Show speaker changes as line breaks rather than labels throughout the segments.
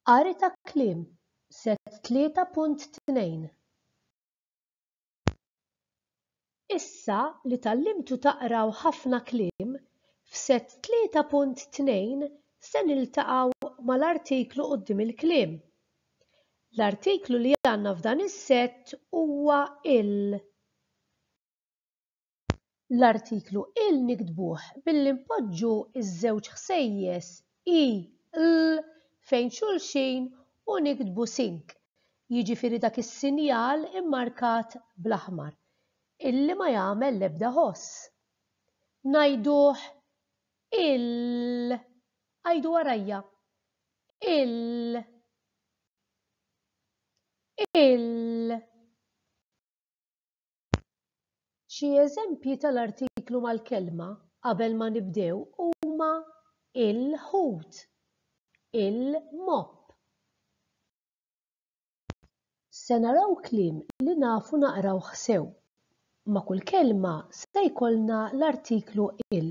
Qari ta' kliem, Set 3.2 Issa li tgħallimtu taqraw ħafna kliem, f'Set 3.2 se niltaqgħu mal-artiklu quddiem il-kliem. L-artiklu li għandna f'dan is-sett huwa il. L-artiklu il niktbuh billi npoġġu ż-żewġ ħsejjes i, l fejn xulxin u niktbu sync, jiġifieri dak is-sinjal immarkat bl-aħmar, illi ma jagħmel l-ebda ħoss. Ngħiduh ill. Għidu warajja. Ill. Ill. Xi eżempji tal-artiklu mal-kelma qabel ma nibdew huma il-ħut, il-mopp. Se naraw kliem li nafu naqrawh sew. Ma' kull kelma se jkollna l-artiklu il.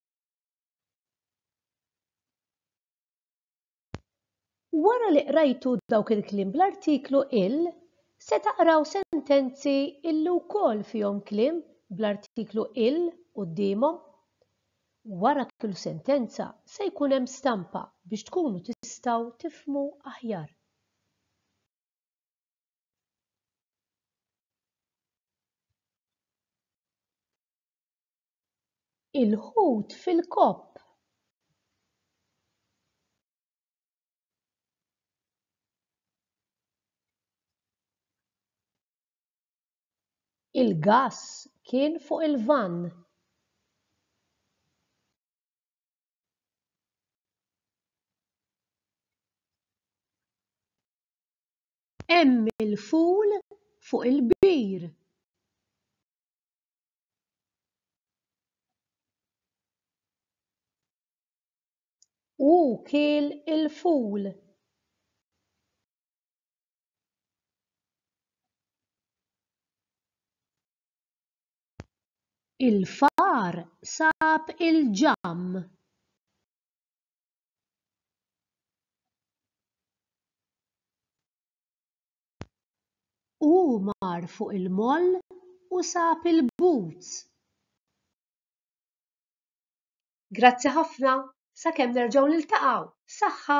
Wara li qrajtu dawk il-kliem bl-artiklu il, se taqraw sentenzi illi wkoll fihom kliem bl-artiklu il quddiemhom. Wara kull sentenza se jkun hemm stampa biex tkunu tistgħu tifhmu aħjar. Il-ħut fil-kopp. Il-gass kien fuq il-vann. Hemm il-ful fuq il-kbir. u kiel il-ful. Il-far sab il-ġamm. U hu mar fuq il-moll u sab il-boots. Grazzi ħafna, sakemm nerġgħu niltaqgħu, saħħa!